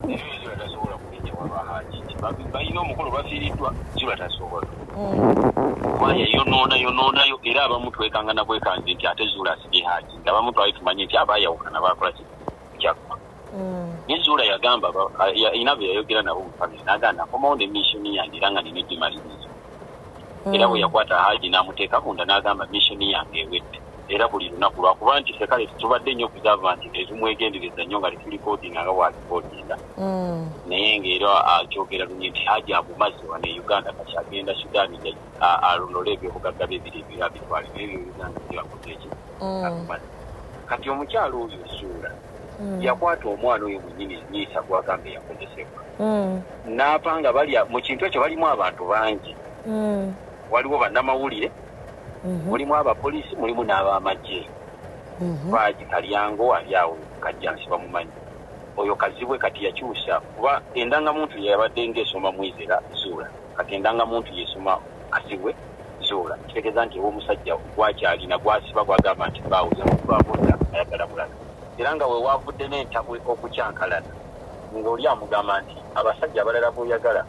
zula tasobola kugenda waba haji balina omukolo bafiiriddwa zula tasobola kuba yeyonoona yonoonayo era abamu twekangana bwekanzi nti ate zuula asibye haji nti abamu twali tumanye nti aba ayawukana bakola ki kyakka mm. ne zuula yagamba ina bwe yayogera nabo mufamire nagamba nakomawo ne missoni yange era nga nina egimaliriza mm. era bwe yakwata haji namuteeka kunda nagamba missoni yange ewedde era buli lunaku lwakuba nti sekale tubadde nnyo kugava nti ezimwegendereza nnyo nga litulikodinga nga wakikodinga mm. naye ngaera akyogera lunye nti haja amumazi wane uganda kati agenda sudani alonole ebyobugagga byebiri ebira bitwale naye byo uganda byakozeeki mm. kati omukyalo oyo suula mm. yakwata omwana oyo munyini nyiisa gwagambe yakozesebwa naapa nga bali mu kintu ekyo balimu abantu bangi waliwo bannamawulire mhm. mulimu abapoliisi mulimu n'abamagye mhm. baagi kalyango ali awo kajjansi bamumanyi oyo kazibwe kati yakyusa kuba endangamuntu yeyabadde ngaesoma mwizera zuula kati endangamuntu yesoma kazibwe zuula kitegeeza nti ewomusajja gwakyalina gwasiba gwagamba nti baawo yakubaboda ayagala mulaga era nga wewaavudde n'entabwe okukyankalana ng'oli amugamba nti abasajja abalala boyagala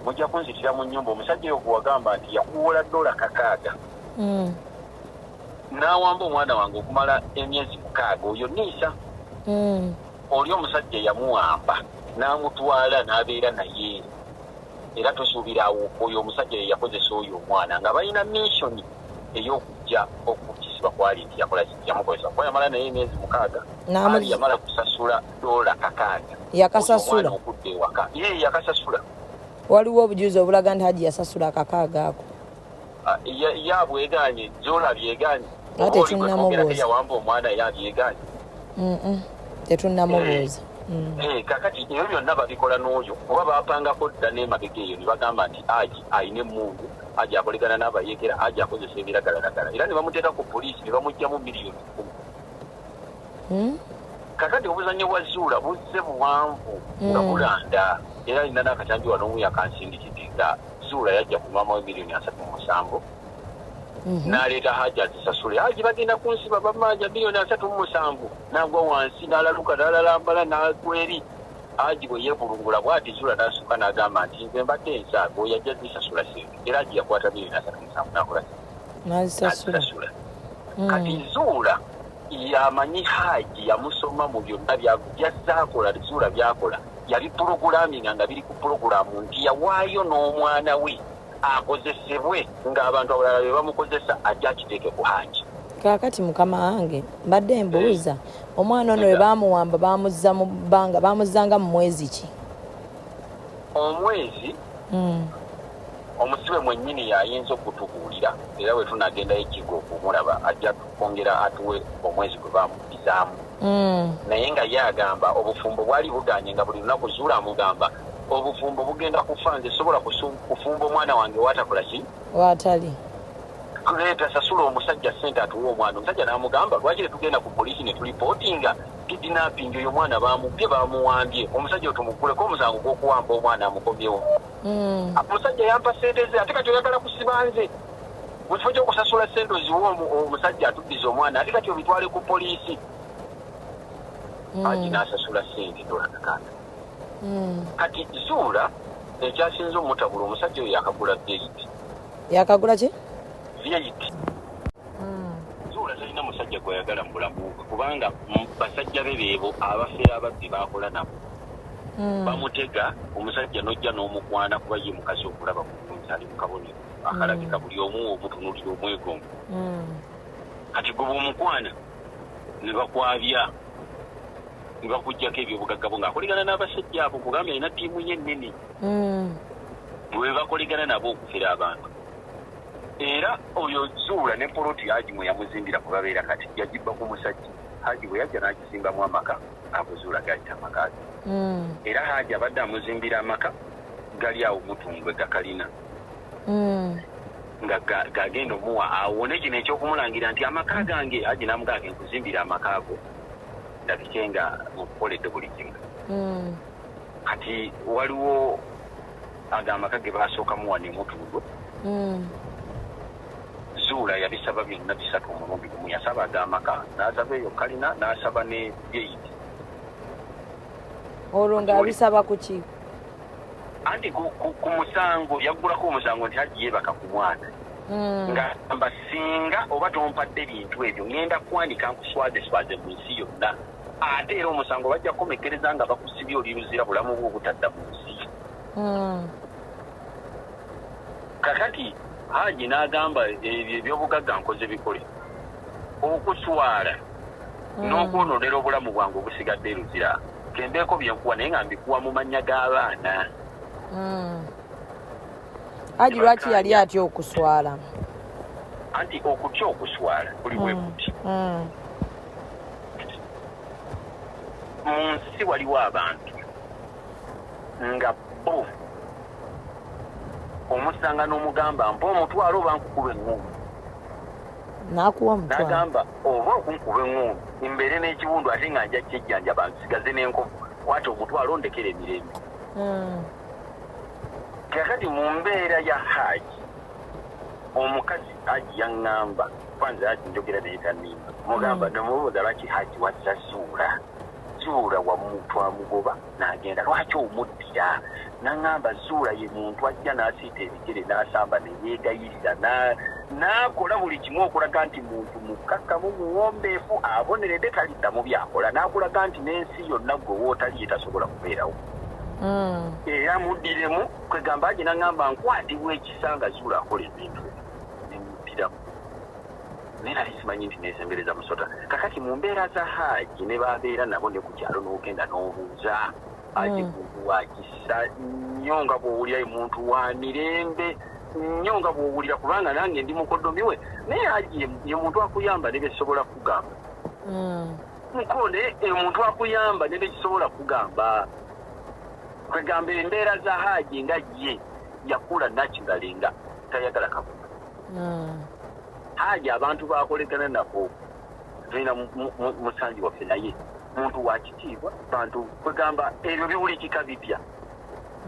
mujja kunzitira mu nyumba omusajja oyo gwewagamba nti yakuwola dola kakaaga mm. n'awamba omwana wange okumala emyezi mukaaga oyo niisa mm. oli omusajja yamuwamba n'amutwala n'abeera naye era tusuubira awo oyo omusajja ye yakozesa oyo omwana nga balina missioni ey'okujja okukisibwa kwali nti yakola yamukozesa kuba yamala naye emyezi mukaaga yamala kusasula dola kakaaga yakasasula okudda ewaka ye yakasasula waliwo obujuzi obulaga nti haji yasasula akakaaga ako ah, yabweganye dola byeganye nga tetunnamubuuza omwana yabyeganye tetunnamubuuza eh, Mm. Eh, kakati ebyo byonna babikola n'oyo oba bapangako dda n'emabega eyo ne bagamba nti aji alina emundu aji akolegana n'abayekera aji akozesa ebiragalalagala era ne bamuteeka ku poliisi ne bamugyamu miliyoni kumi hmm? kakati obuzanyo bwa zuula buzze buwanvu hmm. nga bulanda era alina n'akatambi wano omu yakansindikidde nga zuula yajja kunwamawo emiliyoni asatu mu musanvu mhm. n'aleeta haji azisasule haji bagenda kunsiba bamanja miliyoni asatu mu musanvu nagwa wansi n'alaluka n'alalambala n'akweri haji bwe yeevulungula bwati zuula n'asuka n'agamba nti nze mbadde ensaaga oyo ajja zisasula sente era haji yakwata miliyoni asatu mu musanvu n'akola sente nazisasula hmm. kati zuula yamanyi haji yamusoma mu byonna byazaakola zuula byakola yali pulogulaminga nga biri ku pulogulamu nti yawaayo n'omwana we akozesebwe ng'abantu abalala be bamukozesa ajja akiteeke ku haji kakati mukama wange mbadde mbuuza eh. omwana ono we bamuwamba bamuzza mu bbanga bamuzzanga mu mwezi ki omwezi hmm. Omusibe mwennyini y'ayinza okutubuulira era bwe tunaagendayo e Kigo okumulaba ajja kwongera atuwe omwezi gwe baamuddizaamu. Naye nga ye agamba obufumbo bwali bugaanye nga buli lunaku Zuula amugamba, Obufumbo bugenda kufa, nze sisobola kufumba omwana wange w'atakola ki? W'atali. Tuleeta, sasula omusajja ssente atuwe omwana. Omusajja n'amugamba, Lwaki tetugenda ku poliisi ne tulipootinga kidinapingi? Oyo omwana baamubbye, baamuwambye. Omusajja oyo tumugguleko omusango gw'okuwamba omwana amukomyewo. mm. omusajja yampa sente ze ate kati oyagala kusiba nze mu kifo kyokusasula sente oziwa omusajja atuddiza omwana ate kati obitwale ku poliisi mm. aji nasasula sente dolakakanda mm. kati zuula ekyasinza omutabula omusajja oyo yakagula vit yakagula ki vit zuula talina musajja gweyagala mu bulamu bwe kubanga basajja be beebo abafera ababbi bakola nabo hmm. bamutega omusajja nojja n'omukwana kuba ye mukazi okulaba mukunzi ali mu kabonero hmm. akalabika buli omu omutunulira omwegongo hmm. kati gwe bwomukwana ne bakwabya ne bakuggyako ebyobugagga bwo ng'akoligana n'abasajja abo kugambye alina ttiimu ye ennene bwe bakoligana nabo okufera abantu era oyo zuula ne poloti haji mwe yamuzimbira ku babeera kati yagibba ku musajja haji bwe yajja n'agizimbamu amaka akuzuula gayita amaka ge hmm. era haji abadde amuzimbira amaka gali awo mutungwe gakalina hmm. nga gagenda omuwa awone kino ekyokumulangira nti amaka gange haji namugaa ge nkuzimbira amaka ago ndabike nga mukukoledde buli kimu hmm. kati waliwo ago amaka ge baasookamu wano emutundu mm. zuula yabisaba byonna bisatu omulundi gumu yasaba ago amaka n'asaba eyo kalina n'asaba ne geyiti olwo ng'abisaba ku ki anti ku musango yaggulako omusango nti hajji yeebaka ku mwana mm. nga mba singa oba tompadde bintu ebyo ŋenda kwanika nkuswazeswaze mu nsi yonna ate era omusango bajja kukomekkereza nga bakusibye oli luzira bulamu bwo obutadda mu nsi hmm. kakati haji n'agamba ebyo ebyobugagga nkoze bikole okuswala hmm. n'okwononera obulamu bwange obusigadde luzira kembeeko byenkuwa naye nga mbikuwa mu mannya g'abaana hmm. haji lwaki yali atya okuswala anti okutya okuswala buli wekuti mu nsi waliwo abantu nga bo omusanga n'omugamba mpa omutwalo oba nkukuba eŋŋungu nakuwa omutwalo nagamba oba okunkuba eŋŋungu mbeere n'ekiwundu ate nga nja kyejjanjaba nsigaze n'enkovu kwata omutwalo ondekera emirembe hmm. kakati mu mbeera ya haaji omukazi Haji yangamba kwanza Haji njogera naye tanimba mugamba mm. nomubuuza lwaki Haji wazza zuula zuula wamuntu amugoba nagenda lwaki omuddira nangamba zuula ye muntu ajja nasiita ebigere nasamba neyegayirira nakola buli kimu okulaga nti muntu mukkakkamu muwombeefu aboneredde taliddamu byakola nakulaga nti nensi yonna gwe wootali etasobola kubeerawo mm. era muddiremu kwegamba aje nangamba nkwatibwa ekisa nga zula akola ebintu nemutiramu naye nali simanyi nti nesembereza musota kakati mu mbeera za haaji ne babeera nabo ne ku kyalo n'ogenda n'obuuza aje hmm. kuwa kisa nnyo nga bw'owulira emuntu wa mirembe nnyo nga bw'owulira kubanga nange ndi mukodomi we naye haaji ye muntu akuyamba ne byesobola kugamba hmm. mukole omuntu akuyamba ne byekisobola kugamba kwegamba embeera za haaji nga ye yakula naturally nga tayagala kabuga hmm. haaji abantu bakolegana nabo tulina musanji waffe naye muntu wakitiibwa bantu kwegamba ebyo biwulikika bipya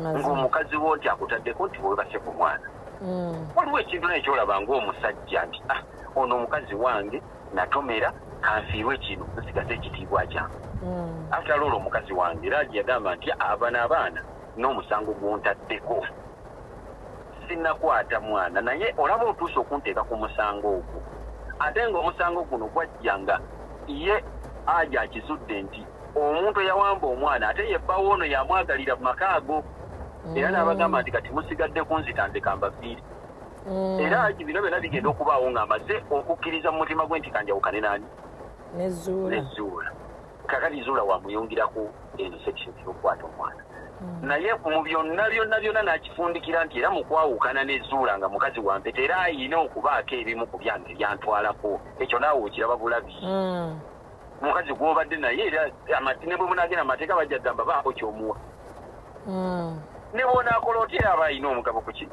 ngaomukazi wo nti akutaddeko nti webase ku mwana hmm. waliwo ekintu naye kyolaba ngaomusajja nti ah, ono omukazi wange natomera kansiirwe kino nsigaze ekitiibwa kyange hmm. after olwo omukazi wange era yagamba nti abana abaana n'omusango gwontaddeko sinakwata mwana naye olaba otuusa okunteeka ku musango ogwo ate nga omusango guno gwajja nga ye aja akizudde nti omuntu eyawamba omwana ate yebbawo ono yamwagalira mu maka ago era hmm. n'abagamba nti kati musigadde kunzita nzekamba viiri mm. era aji bino byona bigenda okubaawo nga amaze okukkiriza mu mutima gwe nti kanjawukane nani nezuula kakati zuula wamuyungiraku eno section yokukwata omwana mm. naye mu byonna byonna byonna nakifundikira nti era mukwawukana nezuula nga mukazi wampeta era ayina okubaako ebimu ku byange byantwalako ekyo naawe okiraba bulabi mm. mukazi gwobadde naye era ne bwe munagenda amateeka bajja gamba baako kyomuwa ne bwonakola otya aba alina omugabo ku kino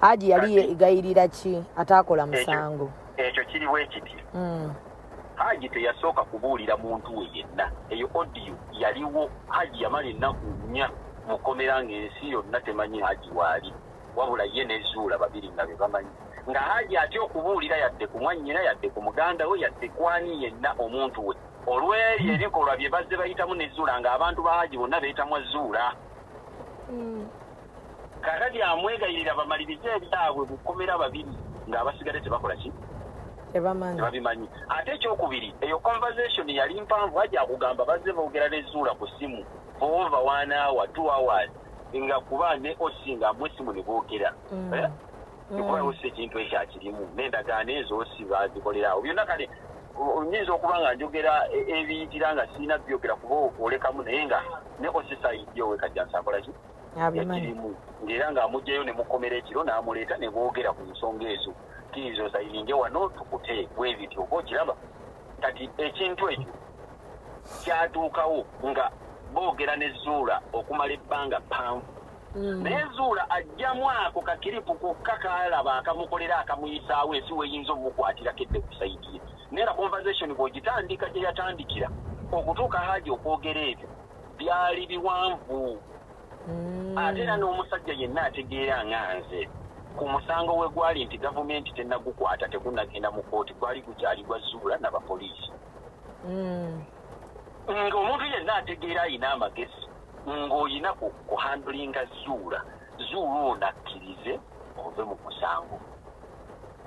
haji yali egayirira ki ataakola musango ekyo kiri bwekiti hmm. haji teyasooka kubuulira muntu we yenna eyo odiyo yaliwo haji yamala ennaku nnya mukomera ng'ensi yonna temanyi haji waali wabula ye nezuula babiri nga be bamanyi nga haji atya okubuulira yadde ku mwannyina yadde ku muganda we yadde kwani yenna omuntu we olw'ebyo ebikolwa bye bazze bayitamu nezuula ng'abantu ba haji bonna beetamwa zuula hmm. kakati amwegayirira bamalirize ebyabwe bukomera babiri ng'abasigade tebakola ki tebabimanyi ate ekyokubiri eyo conversation yali mpanvu aja kugamba bazze boogera nezuula ku simu foova one hour two hours nga kuba ne osi nga amu esimu ne boogera mm. eh? mm. kuba osi ekintu ekyo akirimu n'endagaano ezo osi bazikolera awo byonna kale nyinza okuba nga njogera e, ebiyitira nga sirina byogera kuba olekamu naye nga ne osi sayidyo wekajjansi akolaki ekirimu ngaera nga amugjayo nemukomera ekiro namuleeta nebwogera ku nsonga ezo kiriza osayininge wano tukute bwebiti oba okiraba kati ekintu ekyo kyatuukawo nga boogera ne zuula okumala ebbanga ppanvu mm. naye zuula ajjamu ako kakiripu kokka kalaba akamukolera akamuyisaawo ensi weyinza omumukwatirako edde kusaidiye naye na conversation bwogitandika gyeyatandikira okutuuka haaji okwogera ebyo byali biwanvu mm. ate era n'omusajja yenna ategeera nga nze ku musango we gwali nti gavumenti tenagukwata tegunagenda mu kooti gwali gukyali gwa zuula na bapoliisi mm. ng'omuntu yenna ategeera alina amagezi ng'olina kuhandulinga zuula zuula ono akkirize ove mu musango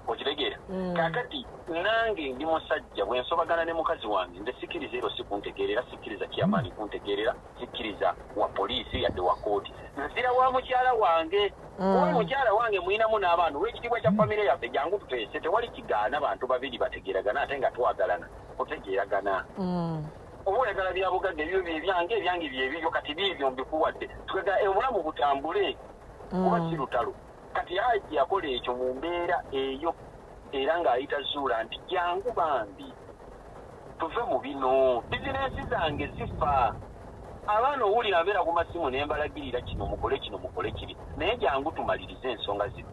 okitegeera mm. kakati nange ndi musajja bwensobagana ne mukazi wange nze sikkiriza ero sikuntegeerera sikkiriza kyamaani mm. kuntegeerera sikkiriza wa poliisi yadde wa kooti nzira wa mukyala wange mm. oba mukyala wange mulinamu n'abaana olwekitiibwa kya famire yaffe jangu tuteese tewali kigaana bantu babiri bategeeragana ate nga twagalana kutegeeragana oba oyagala byabugagga ebyo byebyange ebyange byebibyo kati biibyo mbikuwadde twegala obulamu butambule kuba si lutalo kati haji yakola ekyo mu mbeera eyo era ng'ayita zuula nti jangu bambi tuve mu bino bizinensi zange zifa abaana owulira mbeera ku masimu ne mbalagirira kino mukole kino mukole kiri naye jangu tumalirize ensonga zino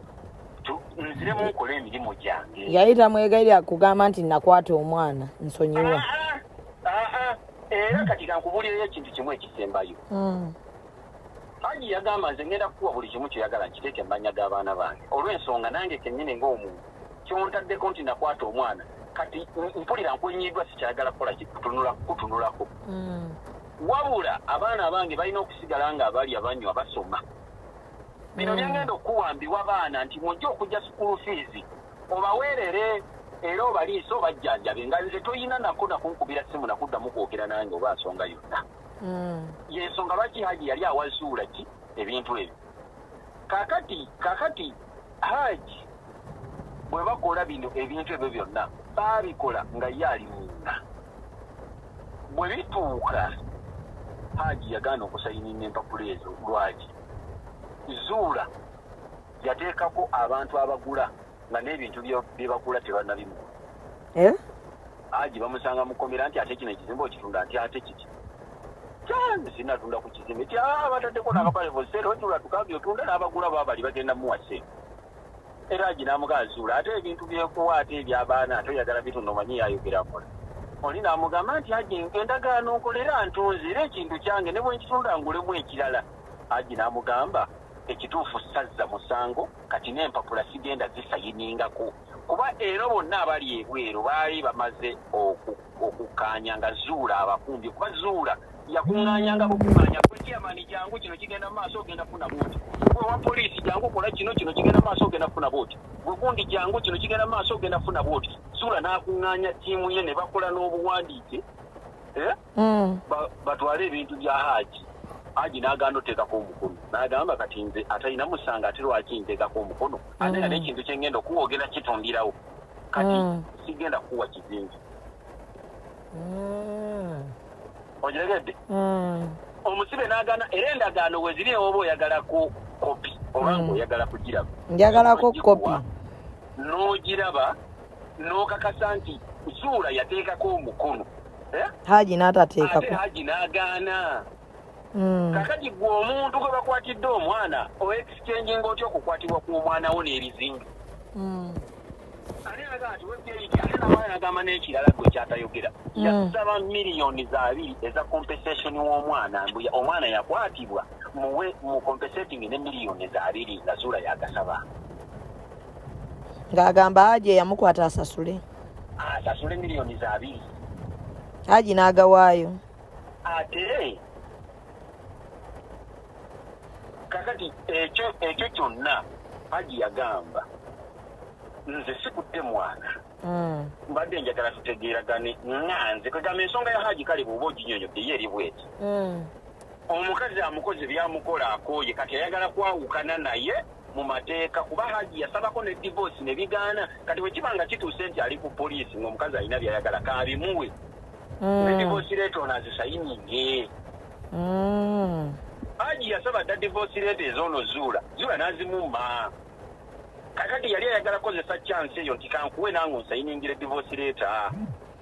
nziremu nkola emirimu gyange yali tamwegayira kugamba nti nakwata omwana nsonyiwa ah, ah, ah, era kati kankubulirayo ekintu kimu ekisembayo hmm. Haji yagamba nze ngenda kukuwa buli kimu kyoyagala nkiteeke mumanya g'abaana bange olw'ensonga nange kennyini ng'omuntu kyontaddeko nti nakwata omwana kati mpulira nkwenyiiddwa sikyagala kukola kikutunula kukutunulako hmm. wabula abaana abange balina okusigala nga abali abanywa basoma bino hmm. byengenda okukuwambiwa baana nti mujja okujja sukulu fiizi obaweerere era obaliise obajjanjabe nga nze toyina nako nakunkubira simu nakuddamu kwogera nange oba nsonga yonna mm. yensonga lwaki haji yali awazuula ki ebintu ebyo kakati kakati haji bwe bakola bino ebintu ebyo byonna baabikola nga ye ali munda bwe bituuka haji yagaana okusayinina empapula ezo lwaki zuula yateekako abantu abagula nga n'ebintu bye bagula tebanabimu eh? aji bamusanga mukomera nti ate kino ekizimba okitunda nti ate kiki sinatunda ku kizimba ti ah, bataddeko nakapale bosere otula tukambi otunda n'abagula babali bagenda muwa sente era aji namugazuula ate ebintu byekuwa ate ebyabaana ate oyagala bitunda omanyi yayogera kola oli namugamba nti aji endagaano nkolera ntunzi era ekintu kyange ne bwenkitunda ngulemu ekirala aji namugamba ekituufu sazza musango kati n'empapula sigenda zisayiningako kuba ero bonna abali ebweru baali bamaze okukkaanya nga zuula abakumbye kuba zuula yakuŋŋaanyanga bukuŋŋaanya kwekiyamani jangu kino kigenda mu maaso ogenda kufuna booti gwe wa poliisi jangu kola kino kino kigenda mu maaso ogenda kufuna booti gwe gundi jangu kino kigenda mu maaso ogenda kufuna booti zuula n'akuŋŋaanya ttiimu ye ne bakola n'obuwandiike eh? mm. batwale ebintu bya haji haji naganda oteekako omukono nagamba kati nze atalina musanga ate lwaki nteekako omukono ate nga mm. nekintu kyengenda okuwogera kitundirawo kati mm. sigenda kukuwa kizinzi ogiregedde omusibe nagana era endagaano weziri ewoba oyagalako kopi oba nga oyagala kugiraba njagalako kopi n'ogiraba n'okakasa nti zuula yateekako omukono eh? haji n'atateekako haji n'agaana hmm. kakati gwe omuntu gwe bakwatidde omwana oexchanginga otya okukwatibwa ku omwana wo n'ebizinga hmm. ani aga nti webyeiki ate nabaana nagamba n'ekirala gwe kyatayogera hmm. yakusaba miliyoni za abiri eza compensation w'omwana mbu omwana yakwatibwa muwe mu compensating ne miliyoni za abiri nga zuula yagasaba ng'agamba aje yamukwata asasule asasule miliyoni za abiri haji n'agawaayo ate kakati ekyo ekyo kyonna haji yagamba nze sikutte mwana hmm. mbadde njagala tutegeeragane nga nze kwegamba ensonga ya haji kale bwoba oginyonyodde ye eri bweti hmm. omukazi amukozi byamukola akooye kati ayagala kwawukana naye mu mateeka kuba Hajji yasabako ne divorce ne bigaana kati bwe kiba nga kituuse nti ali ku poliisi ng'omukazi alina by'ayagala kaabimuwe mm. ne divorce leeta ono azisayininge mm. Hajji yasaba dda divorce leeta ezoono zuula zuula n'azimuma kakati yali ayagala kozesa chance eyo nti kankuwe nange onsayiningire divorce leeta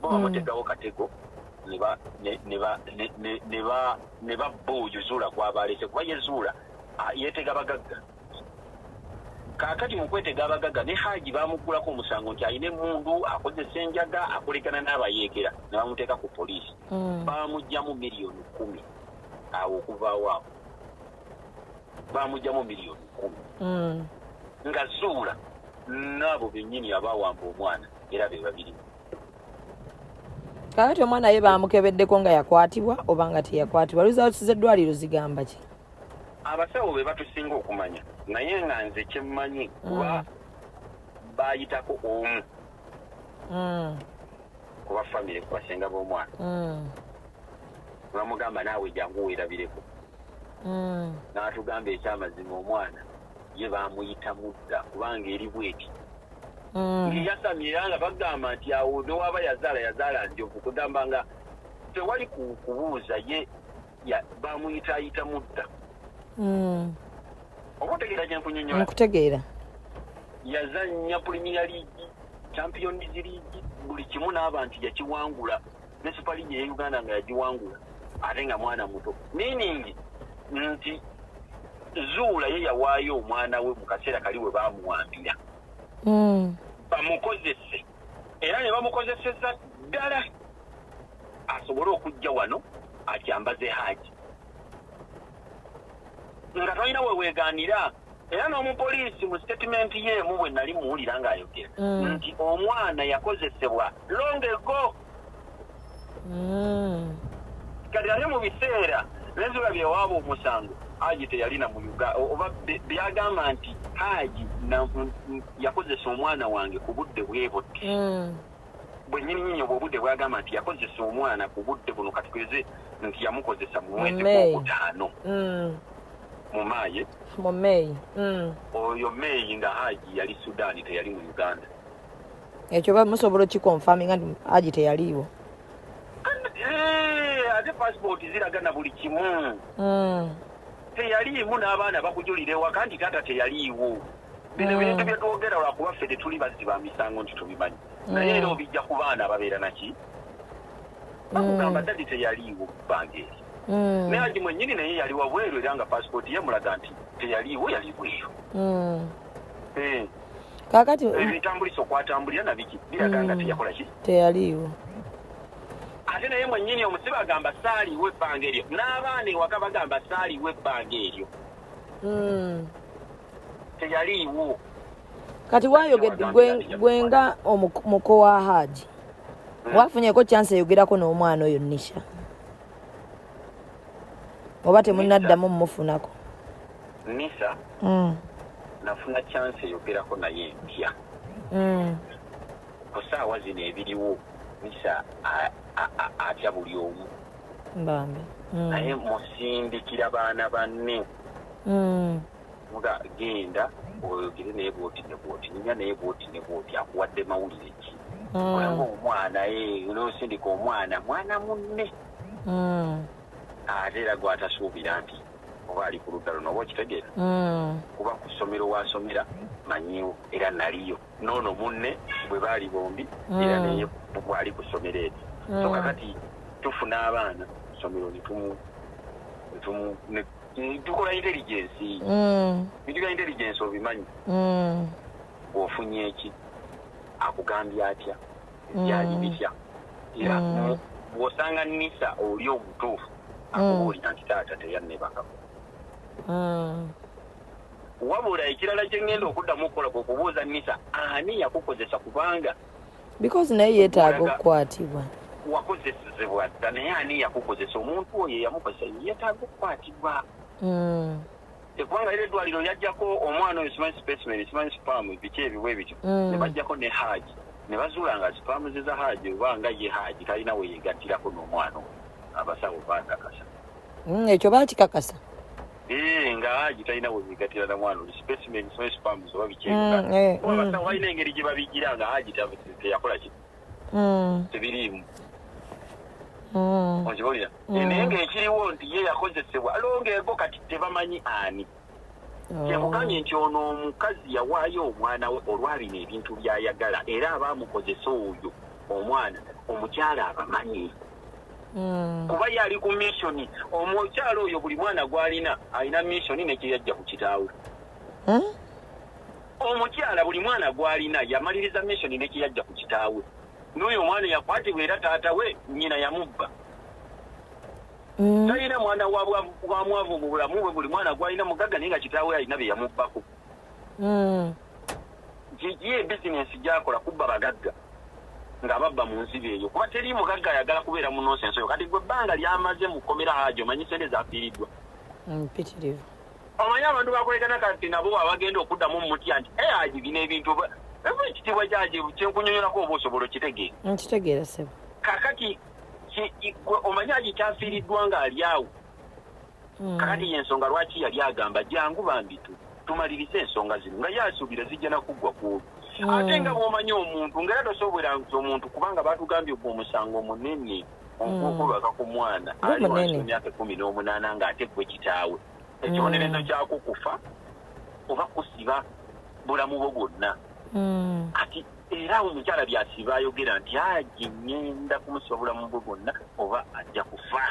bo bamutegawo hmm. katego ne babba oyo zuula gwaba alese kuba ye zuula yetega bagagga kakati mu kwetega abagagga ne haji bamuggulako omusango nti alina emundu akozesa enjaga akolekana n'abayeekera ne bamuteeka ku poliisi hmm. bamugyamu miliyoni kumi awo okuvaawo awo bamugyamu miliyoni kumi hmm. nga zuula n'abo bennyini abaawamba omwana era be babiri kakati omwana ye bamukebeddeko nga yakwatibwa oba nga teyakwatibwa results z'eddwaliro zigamba ki abasawo be batusinga okumanya naye nga nze kyemmanyi kuba mm. bayitako omu mm. kuba famire kubasenga b'omwana mm. bamugamba naawe jangu weerabireko n'atugamba ekyamazima omwana ye bamuyita mudda kubanga eri bweti mm. ngeyasamye era nga bagamba nti awo newaba yazaala yazaala njovu kugamba nga tewali kubuuza ye bamuyitaayita mudda mm. oba otegeera kyenkunyonyola nkutegeera yazanya premier league champions league buli kimu n'abantu yakiwangula ne super league ye uganda nga yagiwangula ate nga mwana muto meaning nti zuula ye yawaayo omwana we mu kaseera kali we baamuwambira hmm. bamukozese era ne bamukozeseza ddala asobole okujja wano akyambaze haaji nga tolina weweegaanira era n'omupoliisi mu sitetimenti ye emu bwe nali muwulira ng'ayogera mm. nti omwana yakozesebwa long ago mm. kati ate mu biseera neziba byewaaba omusango haji teyalina mu uga oba byagamba nti haji yakozesa omwana wange ku budde bwebudde mm. bwe nyini nyini obwo obudde bwagamba nti yakozesa omwana ku budde buno katugeze nti yamukozesa mu mwezi gw'okutaano mm. mu maayi mu meeyi mm. oyo meeyi nga haji yali sudaani teyali mu uganda ekyo musobola okikonfaminga nti haji teyaliiwo eh, ate pasipooti ziraga na buli kimu mm. teyaliimu n'abaana bakujulira ewaka nti taata teyaliiwo bino mm. ebintu byetwogera lwakuba ffe tetuli bazzi ba misango nti tubimanyi mm. naye era obijja ku baana ababeera naki mm. bakugamba dadi teyaliiwo bbanga eri naye agi mwenyini naye yali wabweru era nga pasipooti ye mulaga nti teyaliiwo yali bweru eh. kakati ebitambulisa okwatambulira nabiki biraga nga teyakola ki teyaliiwo ate naye mwenyini omusibe agamba saaliwo ebbanga eryo n'abaana ewaka bagamba saaliwo ebbanga eryo teyaliiwo kati wayogedde gwenga omuko wa haaji hmm. wafunyeko chance eyogerako n'omwana oyo nisha oba temunaddamu mumufunako nisa hmm. nafuna chance eyogerako naye ntya hmm. ku saawa zino ebiriwo nisa atya buli omu bambi mm. naye musindikira baana banne mm. nga genda oyogere naye bwoti ne bwoti ninya naye bwoti ne bwoti akuwadde mawulire ki mm. olaba omwana eh, nosindika omwana mwana munne ate era gwatasuubira nti oba ali ku ludda luno oba okitegeera kuba ku ssomero wasomera manyiwo era naliyo n'ono munne bwe baali bombi mm. era naye bwali ku ssomero eryo so mm. kakati tufuna abaana kusomero tukola intelligensi bidiga mm. intelligensi obimanyi ofunye eki akugambye atya byali bitya era bwosanga nisa oli omutuufu akubuulira nti taata teyannebakako Wabula ekirala kye ngenda okuddamu okukola kwe kubuuza Nisa ani yakukozesa kubanga because naye yeetaaga okukwatibwa wakozesezebwa dda naye ani yakukozesa omuntu oyo eyamukozesa yeetaaga okukwatibwa hmm. ekubanga era eddwaliro yajjako omwana oyo simanyi specimen simanyi spam biki ebiwa ebityo hmm. ne bajjako ne haaji ne bazuula nga spam ze za haaji oba nga ye haaji talina we yeegattirako n'omwana oyo abasawo baakakasa hmm, ekyo baakikakasa Eh, nga haji talina webigatira na mwana oli specimen so spams oba bikyekuba mm, eh, mm. abasawo balina engeri gye babigira nga haji teyakola ki mm. tebiriimu okibolira eh, naye ngaekiriwo nti ye yakozesebwa longeego kati tebamanyi ani oh. kyekugambye nti ono omukazi yawaayo omwana we olwabino ebintu byayagala era abaamukozesa oyo omwana omukyala abamanyi hmm. kuba yali ku missioni omukyalo oyo buli mwana gwalina alina missioni nekyeyajja ku kitaawe hmm? omukyala buli mwana gwalina yamaliriza missioni nekyeyajja ku kitaawe n'oyo omwana yakwatibwa era taata we nyina yamubba hmm. talina mwana wamwavu mu bulamu bwe buli mwana gwalina mugagga naye nga kitaawe alina bye yamubbako gigi ebizinensi gyakola kubba bagagga nga babba mu nziba eyo kuba teri mugagga ayagala kubeera mu nonsense oyo kati gwe ebbanga lyamaze mu kkomera haji omanyi sente zafiiriddwa mpitirivu mm, omanyi abantu bakolekana kati nabo abagenda okuddamu mumutya nti e haji bino ebintu eva ekitiibwa kyaji kyenkunyonyolako oba osobola okitegeera nkitegeera mm, sebo kakati omanyi haji kyafiiriddwa ng'ali awo hmm. kakati yensonga lwaki yali agamba jangu bambi tu tumalirize ensonga zino nga yasuubira zijja nakuggwa kuobi hmm. ate nga bwomanyi omuntu ngaera tosobwera nti omuntu kubanga batugambye ogwo omusango munene ogwokulwaka hmm. ku mwana ali wansi emyaka ekumi n'omunaana ng'ate gwe kitaawe ekibonerezo kyakukufa oba kusiba bulamu bwo bwonna kati era awo omukyala byasiiba ayogera nti aji ngenda kumusiba bulamu bwe bwonna oba ajja kufa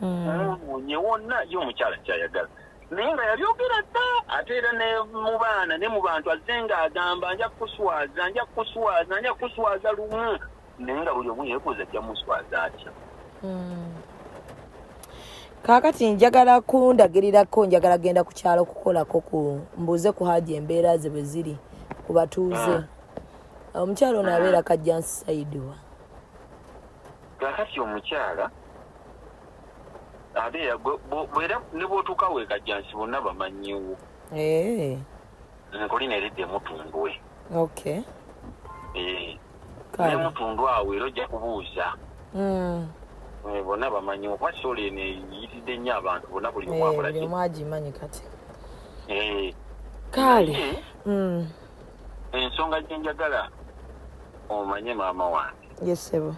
mwonoonye hmm. wonna ye omukyala kyayagala naye nga yabyogera dda ate era ne mu baana ne mu bantu azze nga agamba nja kukuswaza nja kukuswaza nja kukuswaza lumu naye nga buli omu yeebuuza ajja muswaza atya hmm. kaakati njagala kundagirirako njagala genda ku kyalo okukolako ku mbuuze ku haji embeera ze bwe ziri ku batuuze ah. omukyalo ono abeera kajjansi saidiwa kakati omukyala abeera bwera ne bwotuuka wekajjansi bonna bamanyiwo eh. nkuli neridde mutundwe okay eh ne mutundwe awo era ojja kubuuza mm eh, bona bamanyi okuba sole ne yitidde nnyo abantu bona buli eh, omwakola buli omwagimanyi kati eh kale eh, mm ensonga gye njagala omanye maama wange yesebo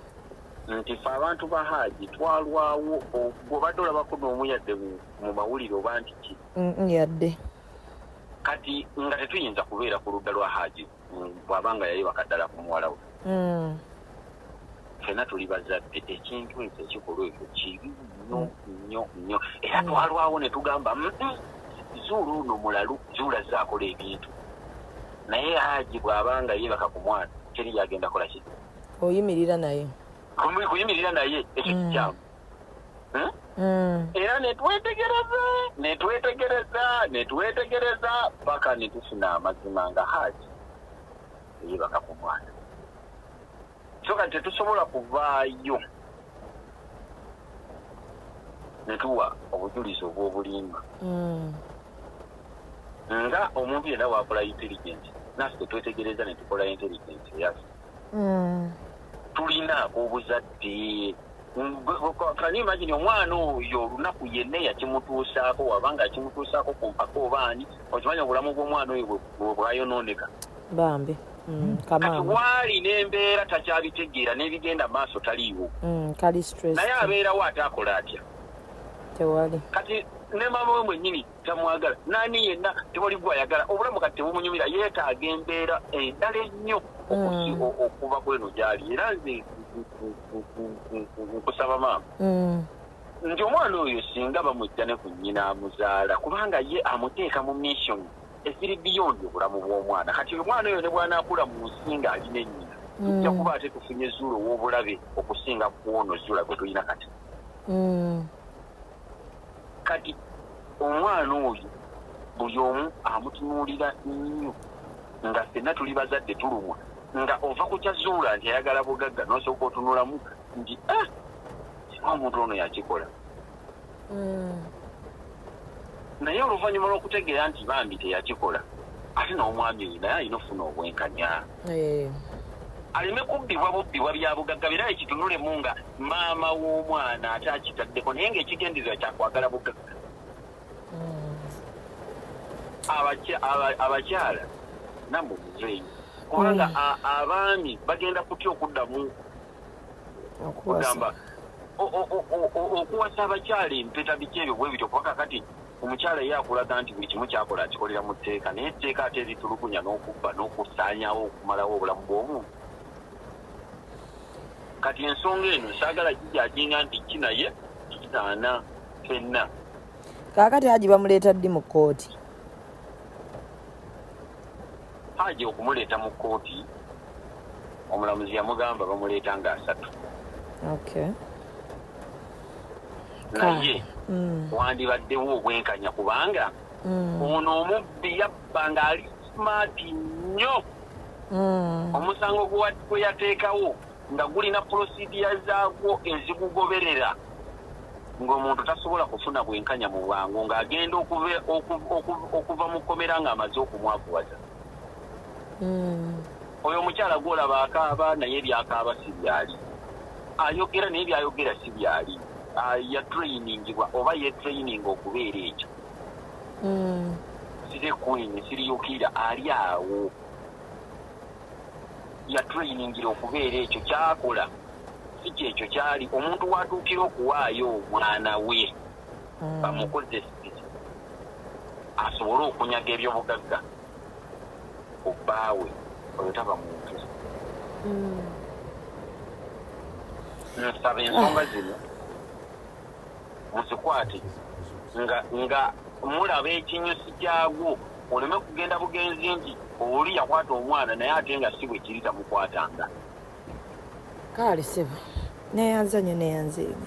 nti fe abantu ba haaji twalwawo gwobadde olabako noomu yadde mu mawulire oba nti ki mm, yadde kati nga tetuyinza kubeera ku ludda lwa haji bwaba nga yayebaka ddala ku muwala we hmm. fena tuli bazadde ekintu ekyo ekikolwa ekyo kibi nyo nyo nyo era hmm. twalwawo ne tugamba zuula ono mulalu zuula zaakola ebintu naye haji bwaba nga yebaka ku mwana teri yagenda kola ki oyimirira naye kuyimirira naye ekyo hmm. kikyamu hmm? hmm. era netwetegereza netwetegereza netwetegereza paka netufuna amazima nga haji eyebaka ku mwana so kati tetusobola kuvaayo netuwa obujulizi obw'obulimba hmm. nga omuntu yenna wakola intelligence naffe twetegereza netukola intelligence yaffe mm. tulina ak'obuzadde kani imagine omwana oyo olunaku yenna yakimutuusaako waba nga akimutuusaako ku mpaka obaani okimanya obulamu bw'omwana oyo bwebwayonooneka bambi Mm, kati waali n'embeera takyabitegeera n'ebigenda maaso taliiwo mm, naye abeerawo ate akola atya kati ne mama we mwenyini tamwagala nani yenna tewali gwayagala obulamu kati tebumunyumira yeetaaga embeera endala ennyo mm. okuva kweno gyali era nze nkusaba maama mm. nti omwana oyo singa bamujja ne ku nnyina amuzaala kubanga ye amuteeka mu mission eziri biyondi obulamu bw'omwana kati omwana oyo ne bwanaakula mu nsi nga ali ne nnyina mm. tujja kuba ate tufunye zuula ow'obulabe okusinga kwono zuula gwe tulina kati kati omwana oyo buli omu amutunuulira nnyo nga fenna tuli bazadde tulumwa nga ova ku kyazuula nti ayagala bugagga nosooka otunulamu nti ah, omuntu ono yakikola hmm. naye oluvannyuma lw'okutegeera nti bambi teyakikola ate n'omwami oyo naye alina ofuna obwenkanya eh. aleme kubbibwa bubbibwa byabugagga bera ekitunulemu nga maama w'omwana ate akitaddeko naye ngaekigendezebwa kyakwagala bugagga hmm. abakyala namuzeeyi kubanga hmm. abaami bagenda kutya okuddamu okugamba okuwasa abakyala empeta biki ebyo bwe bityo kubaka kati omukyala ye akulaga nti buli kimu kyakola akikolera mu tteeka naye etteeka ate eritulugunya n'okubba n'okusaanyawo okumalawo obulamu bw'omuntu kati ensonga eno saagala kijajinga nti ki naye kitaana fenna kaakati aji bamuleeta ddi mu kkooti Haji okumuleeta mu kkooti omulamuzi yamugamba bamuleeta nga asatu naye mm. wandibaddewo obwenkanya kubanga mm. ono omubbi yabba ng'ali maati nnyo mm. omusango gwe yateekawo nga gulina pulosidiya zaagwo ezigugoberera ng'omuntu tasobola kufuna bwenkanya mu bwangu ng'agenda okuva mu kkomera ng'amaze okumwakuwaza hmm. oyo omukyala gwolaba akaaba naye ebyakaaba si byali ayogera naye byayogera si byali ah, yatrainingibwa oba yetraining okubeera ekyo hmm. siri queen siriyukira ali awo yatuleyiningira okubeera ekyo kyakola si kyekyo kyali omuntu watuukira okuwaayo omwana we hmm. bamukozesa asobole okunyaga ebyobugagga obbaawe oyo taba muntu hmm. nsaba ensonga zino guzikwate nga nga mulaba ekinyusi kyagwo oleme kugenda bugenzi nti oli yakwata omwana naye ate nga si bwe kiri tamukwatanga kaale sebo neyanzanye neyanzeemu